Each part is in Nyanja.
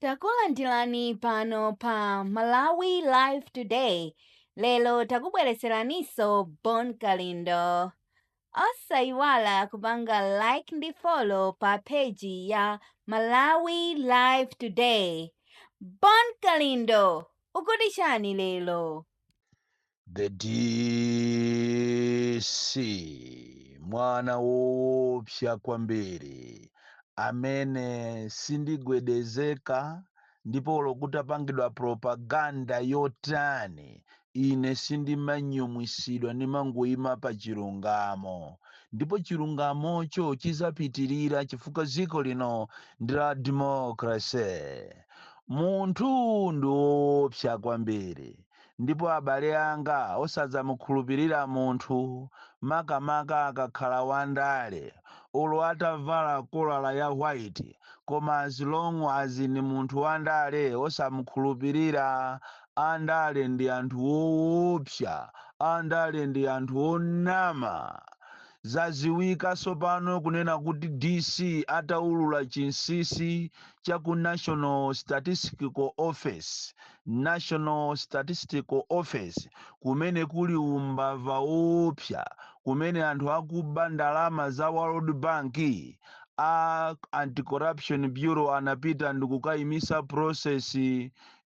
Takulandirani pano pa Malawi Live Today. Lero takubweretseraniso Bon Kalindo. Osayiwala kupanga like ndi follow pa page ya Malawi Live Today. Bon Kalindo, ukuti chani lero? the DC mwana woopsa kwambiri amene sindigwedezeka ndipo olo kutapangidwa propaganda yotani ine sindimanyumwisidwa ndimangoyima pa chilungamo ndipo chilungamocho chizapitirira chifukwa dziko lino ndi la democracy munthu ndi woopsa kwambiri Ndipo abale anga, osadzamukhulupirira munthu, makamaka akakhala wandale, olo atavala kolala ya white, koma as long as ndi munthu wandale, osamukhulupirira. Andale ndi anthu oopsa. Andale ndi anthu onama. Zaziwika sopano kunena kuti DC ataulula chinsisi cha ku National Statistical Office, National Statistical Office, kumene kuli umbava woopsa kumene anthu akuba ndalama za World Bank, a Anti-Corruption Bureau anapita ndikukaimisa process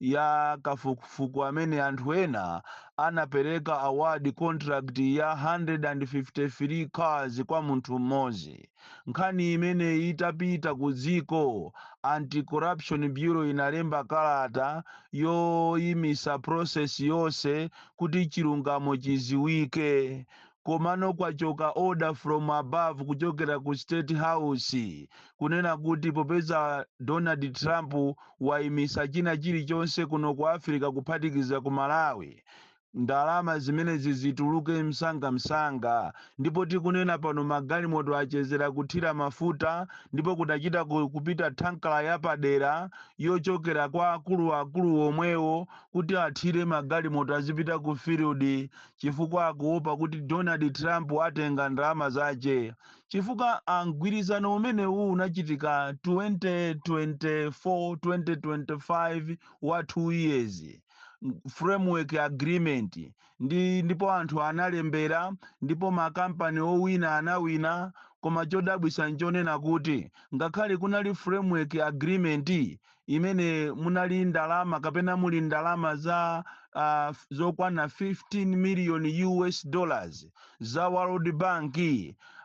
ya kafukufuku amene anthu ena anapereka award contract ya 153 cars kwa munthu mmodzi. Nkhani imeneyi itapita ku dziko, Anti-Corruption Bureau inalemba kalata yoimisa process yonse kuti chilungamo chiziwike. Komano kwachoka order from above kuchokera ku State House kunena kuti popeza Donald Trump waimisa china chilichonse kuno ku Africa kuphatikiza ku Malawi, Ndalama zimenezi zituluke msangamsanga ndipo tikunena pano magalimoto achezera kuthira mafuta ndipo kudachita kupita thankala yapadera yochokera kwa akuluakulu omwewo kuti athire magalimoto azipita ku field chifukwa akuopa kuti Donald Trump atenga ndalama zache chifukwa mgwirizano umenewu unachitika 2024 2025 wa two years. framework agreement ndipo anthu analembera ndipo makampani owina anawina koma chodabwisa nchonena kuti ngakhale kunali framework agreement imene munali ndalama kapena muli ndalama za uh, zokwana 15 million us dollars za world bank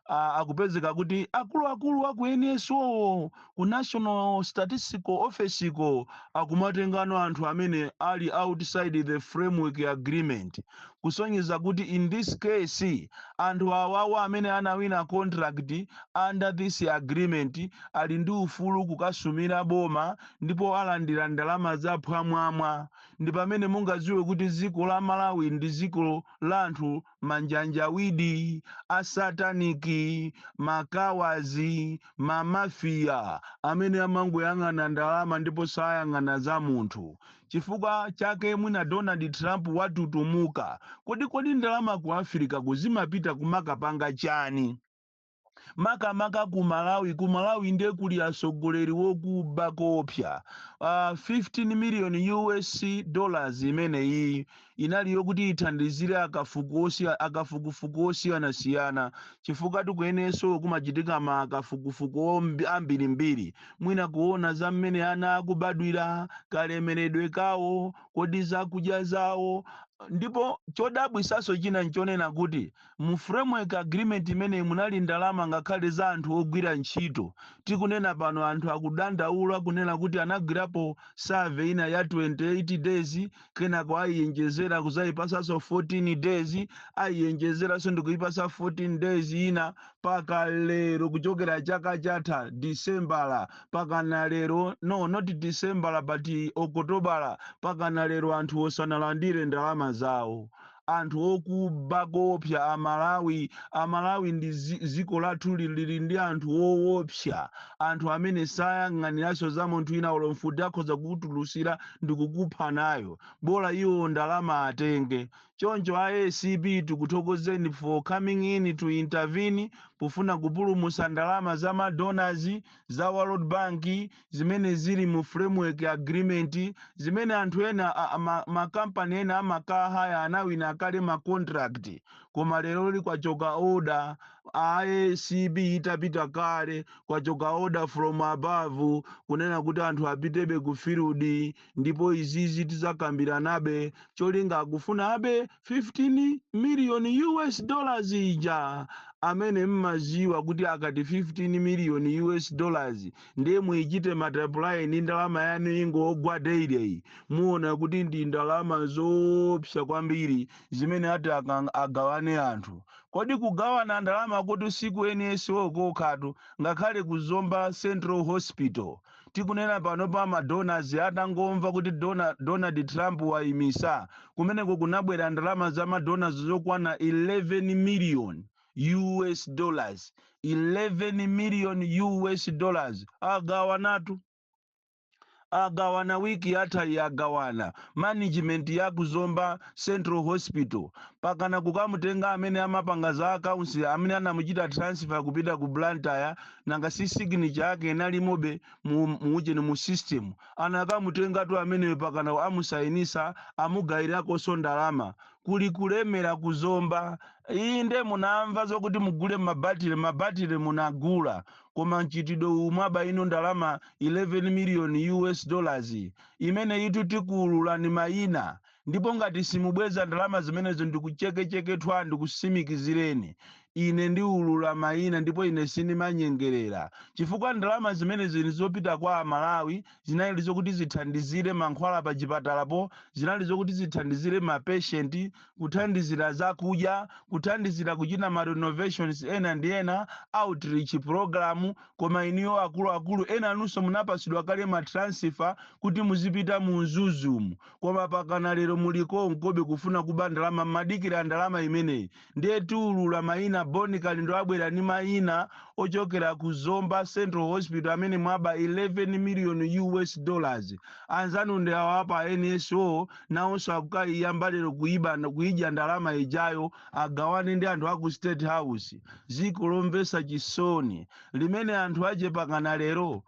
ah, akupezeka kuti akuluakulu aku NSO ku National Statistical Office ko akumatengano anthu amene ali outside the framework agreement kusonyeza kuti in this case anthu awawa amene anawina contract under this agreement ali ndi ufulu kukasumira boma ndipo alandira ndalama za phwamwamwa ndi pamene mungadziwe kuti dziko la Malawi ndi dziko la anthu manjanjawidi asataniki makawazi mamafiya amene amangoyang'ana ndalama ndipo sayang'ana za munthu chifukwa chake mwina donald trump watutumuka kuti kodi ndalama ku africa kuzimapita kumakapanga chani makamaka ku malawi ku malawi nde kuli atsogoleri wokuba koopsa uh, 15 million us dollars imeneyi inali yokuti ithandizire akafuku osia- akafukufuku osiyanasiyana chifukwa tikuyeneso kumachitika makafukufuku ombi- ambirimbiri mwina kuona za mmene ana akubadwira kalemeredwe kawo kodi zakudya zawo ndipo chodabwisaso china nchonena kuti Mu framework agreement imeneyi munali ndalama ngakhale za anthu ogwira ntchito. Tikunena pano anthu akudandaula kunena kuti anagwirapo survey ina ya 28 days, kenako ayiyenjezera kudzaipatsanso 14 days, ayiyenjezeranso ndikuipatsa 14 days ina paka lero kuchokera chaka chatha Disembala pakana lero, no not Disembala but Okotobala pakana lero anthuwo sanalandire ndalama zawo. anthu okuba koopsa amalawi amalawi ndi ziko lathuli lili ndi anthu oopsa anthu amene sayang'aniraso za munthu wina olo mfuti akhoza kukutulusira ndikukupha nayo bola iwo ndalama atenge choncho a acb tikuthokozeni for coming in to intervene pofuna kupulumusa ndalama za ma donors za world bank zimene zili mu framework agreement zimene anthu ena a- a- ma, ma company ena a ma car hire anawina kale ma contract koma leroli kwachoka order a ACB itapita kale kwachoka order from above kunena kuti anthu apitebe ku field ndipo izizi tizakambiranabe cholinga akufuna abe 15 million US dollars ija amene mmaziwa kuti akati 15 million US dollars ndiye muichite multiply ndi ndalama yanu ingogwa daily muona kuti ndi ndalama zoopsa kwambiri zimene ati akang- agawane anthu kodi kugawana ndalama kuti siku NSO kokhatu ngakhale ku Zomba Central Hospital Tikunena panopa ma donors atangomva kuti Donald Trump waimisa, kumeneko kunabwera ndalama za ma donors zokwana 11 million US dollars, 11 million US dollars agawanatu. agawana week yathayi agawana management ya ku Zomba Central Hospital pakana kukamutenga amene amapanga za accounts amene anamuchita transfer kupita ku Blantyre nanga si signature yake inalimobe mu muujeni mu system anakamutengatu ameneyo pakana amusayinisa amugayirakonso ndalama kuli kulemera kuzomba inde munamva zokuti mugule mabatire mabatire munagula koma mchitidwe uwu mwaba ino ndalama 11 million us dollars imene iyitu tikuululani mayina Ndipo ngati simubweza ndalama zimenezo, ndikuchekecheke thwa, ndikusimikizireni ine ndiulula maina ndipo ine sindimanyengelera chifukwa ndalama zimenezi nzopita kwa a Malawi, zinali zokuti zithandizire mankhwala pa chipatala po, zinali zokuti zithandizire ma patient, kuthandizira zakudya, kuthandizira kuchita ma renovations ena ndi ena, outreach program, koma inuyo akuluakulu enanunso munapasidwa kale ma transfer kuti muzipita mu Mzuzumu, koma pakana lero muli konkobe kufuna kuba ndalama mmadikira ndalama imeneyi ndiye tiulula maina Bon Kalindo abwera ndi maina ochokera ku Zomba Central Hospital amene mwaba 11 million US dollars anzanu ndi awa apa NSO nawonso akukaiyamba lero kuidya ndalama ijayo agawane ndi anthu aku State House ziko lomvesa chisoni limene anthu ache pakana lero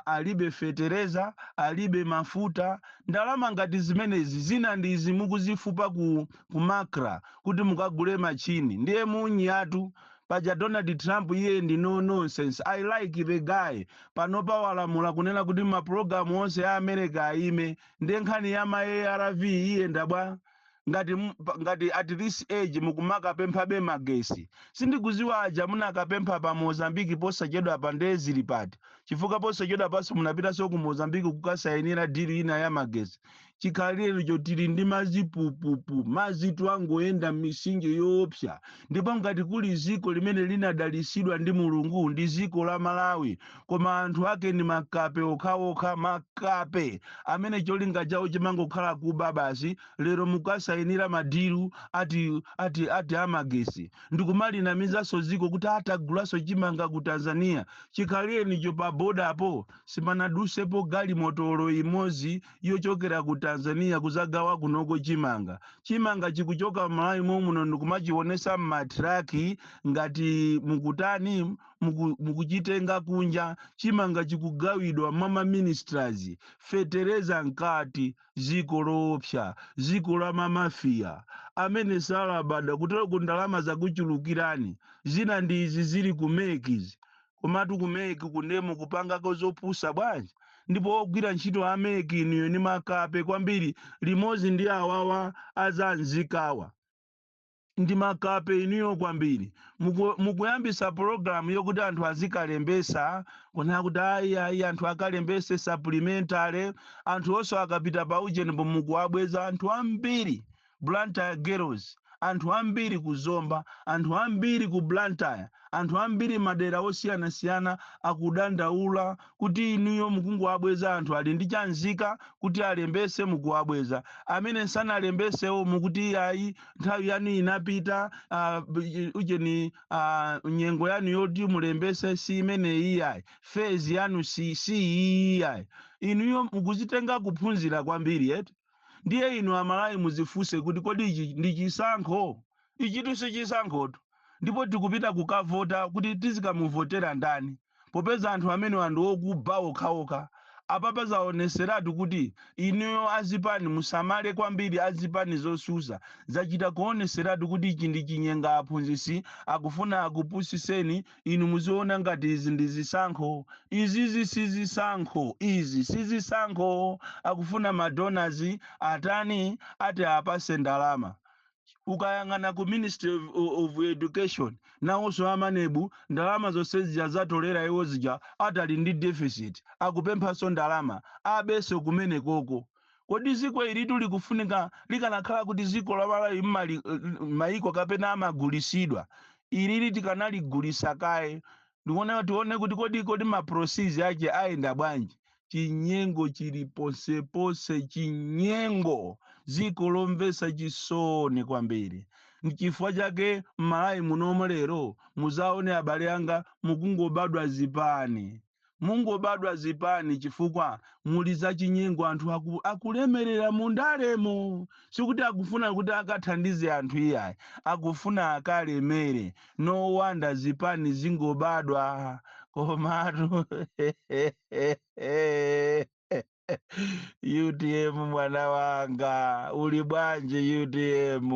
alibe fetereza, alibe mafuta. Ndalama ngati zimenezi zina ndi izi mukuzifupa ku, ku Macra kuti mukagule machine. Ndiye munyatu. Paja Donald Trump iye ndi no nonsense. I like the guy. Panopa walamula kunena kuti mapulogalamu onse a America aime. Ndiye nkhani ya ma arv iyenda bwa? ngati m- pa- ngati at this age mukumakapemphabe magesi sindikuziwa aja munakapempha pa mozambiki posachedwapa nde zili pati chifukwa posachedwapanso munapitanso ku mozambiki kukasayinira dili ina ya magesi chikhalirenicho tili ndi madzi pupupu madzitu angoyenda m'misinje yoopsa ndipo ngati kuli dziko limene linadalitsidwa ndi mulungu ndi dziko la malawi koma anthu ake ndi makape okhaokha makape amene cholinga chawo chimangokhala kuba basi lero mukasayinira madilu ati amagesi ndikumalinamizanso dziko kuti atagulaso chimanga ku tanzania chikhalirenicho pa bodapo simanadusepo galimoto olo imodzi yochokera ku tanzania kuzagawa kunoko chimanga chimanga chikuchoka malawi momuno ndi kumachiwonesa mmatraki ngati mukutani muku- mukuchitenga kunja chimanga chikugawidwa mwa maministers fetereza nkati ziko loopsa ziko la mamafiya amene salabada kuteroko ndalama zakuchulukirani zina ndi izi zili ku mekizi komatu ku mec kunkemo mukupangako zopusa bwanji ndipo ogwira ntchito a mec inuyo ni makape kwambiri limodzi ndi awawa azanzikawa ndi makape inuyo kwambiri Muku- mukuyambisa pologalamu yokuti anthu azikalembetsa kunena kuti ayi ayi anthu akalembese supplementary anthu onse akapita pa ujenipo mukuwabweza anthu ambiri Blantyre girls, anthu ambiri ku Zomba, anthu ambiri ku Blantyre, anthu ambiri madera osiyanasiyana akudandaula kuti inuyo mukungowabweza anthu ali ndi cha nzika kuti alembetse mukuwabweza, amene sanalembetsewo mukuti iyayi nthawi yanu inapita, aah ujeni aah nyengo yanu yoti mulembetse si imeneyi iyayi, phase yanu si iyi iyayi. Inuyo mukuzitenga kuphunzira kwambiri eti? ndiye inu amalawi muzifunse kuti kodi ichi ndi chisankho ichitu si chisankhotu ndipo tikupita kukavota kuti tizikamuvotera ndani popeza anthu amenewa ndi okuba okhaokha apapa zaoneseratu kuti inuyo azipani musamale kwambiri azipani zotsutsa zachita kuoneseratu kuti ichi ndi chinyenga mphunzitsi akufuna akupusiseni Inu muziona ngati izi ndi zisankho. Izizi si zisankho. Izi si zisankho. Akufuna ma donors atani? Ati apase ndalama. Ukayang'ana ku ministry of, of education nawonso a MANEB ndalama zonse zija zatolera iwo zija ati ali ndi deficit akupemphanso ndalama abenso kumenekoko. Kodi ziko ilitu likufunika likanakhala kuti ziko la Malawi mmaiko kapena amagulisidwa ilili tikanaligulisa kaye tione tione kuti kodi kodi ma process ake ayenda bwanji. Chinyengo chili ponseponse chinyengo ziko lomvesa chisoni kwambiri mchifukwa chake mmalawi munomo lero muzaone abale anga mukungobadwa zipani. mungobadwa zipani chifukwa muli zachinyengo anthu aku, akulemerera mu ndalemo sikuti akufuna kuti akathandize anthu iyayi akufuna akalemere no wonder zipani zingobadwa komatu utm mwana wanga uli bwanji utm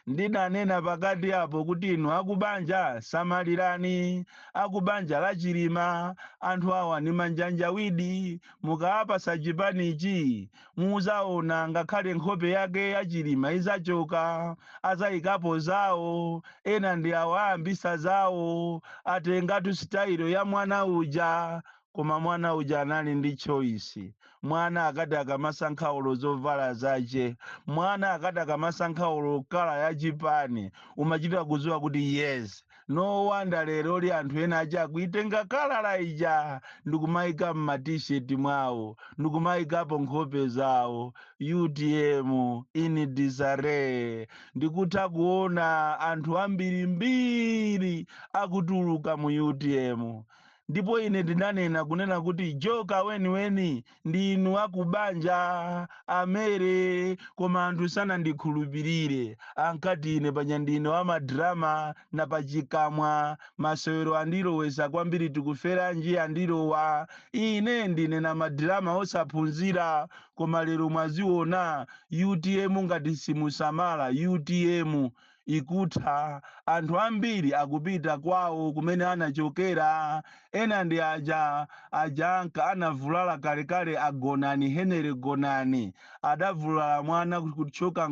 ndinanena pakati apo kuti inu akubanja samalirani akubanja la chilima anthu awa ni manjanjawidi mukaapasa chipanichi muzaona ngakhale nkhope yake ya chilima izachoka azayikapo zawo ena ndi awa ayambisa zawo atengatu sitayilo ya mwana uja Koma mwana uja anali ndi choice. Mwana akati akamasankha olo zovala zache. Mwana akati akamasankha olo colour ya chipani. Umachita kuziwa kuti yes. No wonder leroli anthu ena aja akuitenga kala ija ndikumaika mma T-shirt mwao ndikumaikapo nkhope zao. Utm in disarray. Ndikutha kuona anthu ambiri mbiri akutuluka mu utm. Ndipo ine ndinanena, kunena kuti, Joka weniweni ndi inu akubanja, a Mary, koma anthu sanandikhulupirire. Ankati ine paja ndine wa madrama, napachikamwa, masewero andilowesa kwambiri Tikuferanji andilowa. Ine ndine wamadrama osaphunzira, koma lero mwaziona, utm ngati simusamala, utm. ikutha, anthu ambiri akupita kwawo kumene anachokera, ena ndi aja aja anka anavulala kalekale a Gonani Henry Gonani adavulala mwana kutchoka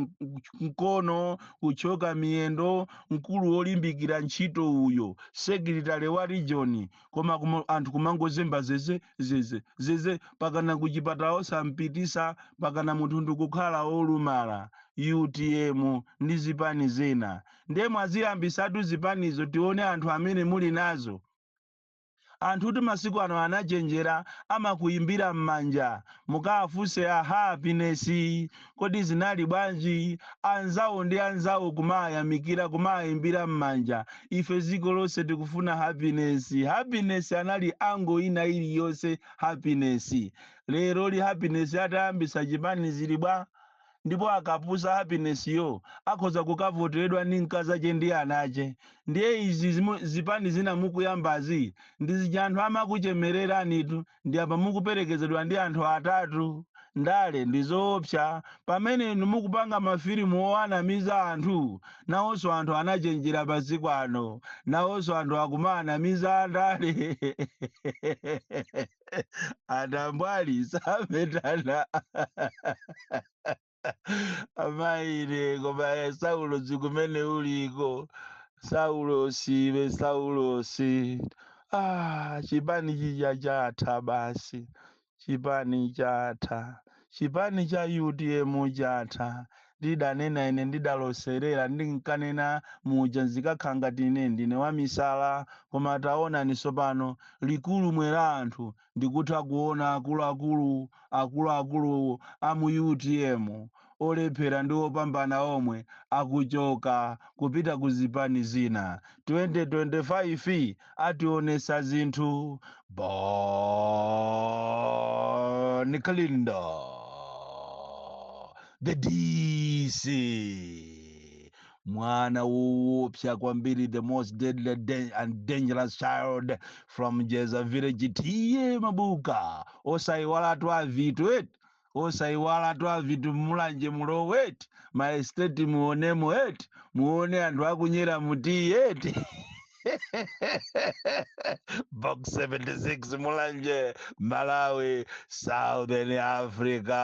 mkono kutchoka miyendo mkulu wolimbikira ntchito uyo secretary wa region koma anthu kumangozemba zeze zeze zeze pakana kuchipatala osampitisa pakana munthu ndikukhala olumala utm ndi zipani zina ndiye mwaziyambisatu zipanizo tione anthu amene muli nawo anthu kuti masiku ano anachenjera amakuyimbira m'manja mukaafunse a happiness Kodi zinali bwanji? Anzawo ndi anzawo kumawayamikira, kumawaimbira m'manja, Ife dziko lonse tikufuna happiness, happiness anali angle ina iliyonse happiness. Leroli happiness atayambitsa chipani zili bwa? Ndipo akapusa happiness yo akhoza kukavoteredwa ndi mkazache ndi anache. Ndiye izi zipani zina mukuyambazi ndizija anthu amakuchemereranitu. ndi apa mukuperekezedwa ndi anthu atatu ndale ndi zoopsa pamene inu mukupanga mafilimu owanamiza anthu nawonso anthu anachenjera masiku ano nawonso anthu akumaanamiza andale atambwali sametana amayine koma saulosi kumene uliko saulosi iwe saulosi ah, chipani chija chatha basi chipani chatha chipani cha utm chatha ndidanena ine ndidaloserera ndinkanena muja zikakhala ngati ine ndine wamisala koma taonani sopano likululumwe la anthu ndikutha kuona akuluakulu akuluakulu a mu utm olephera ndi opambana omwe akuchoka kupita ku zipani zina 2025 ationesa zinthu bon kalindo the dc mwana woopsa kwambiri the most deadly dan- and dangerous child from jeza village tiye mabuka osayiwala tu avitu eti osayiwala tu avitu mulanje mulowe eti maesteti muonemo eti muone anthu akunyera mutiyi eti box 76 mulanje malawi southern africa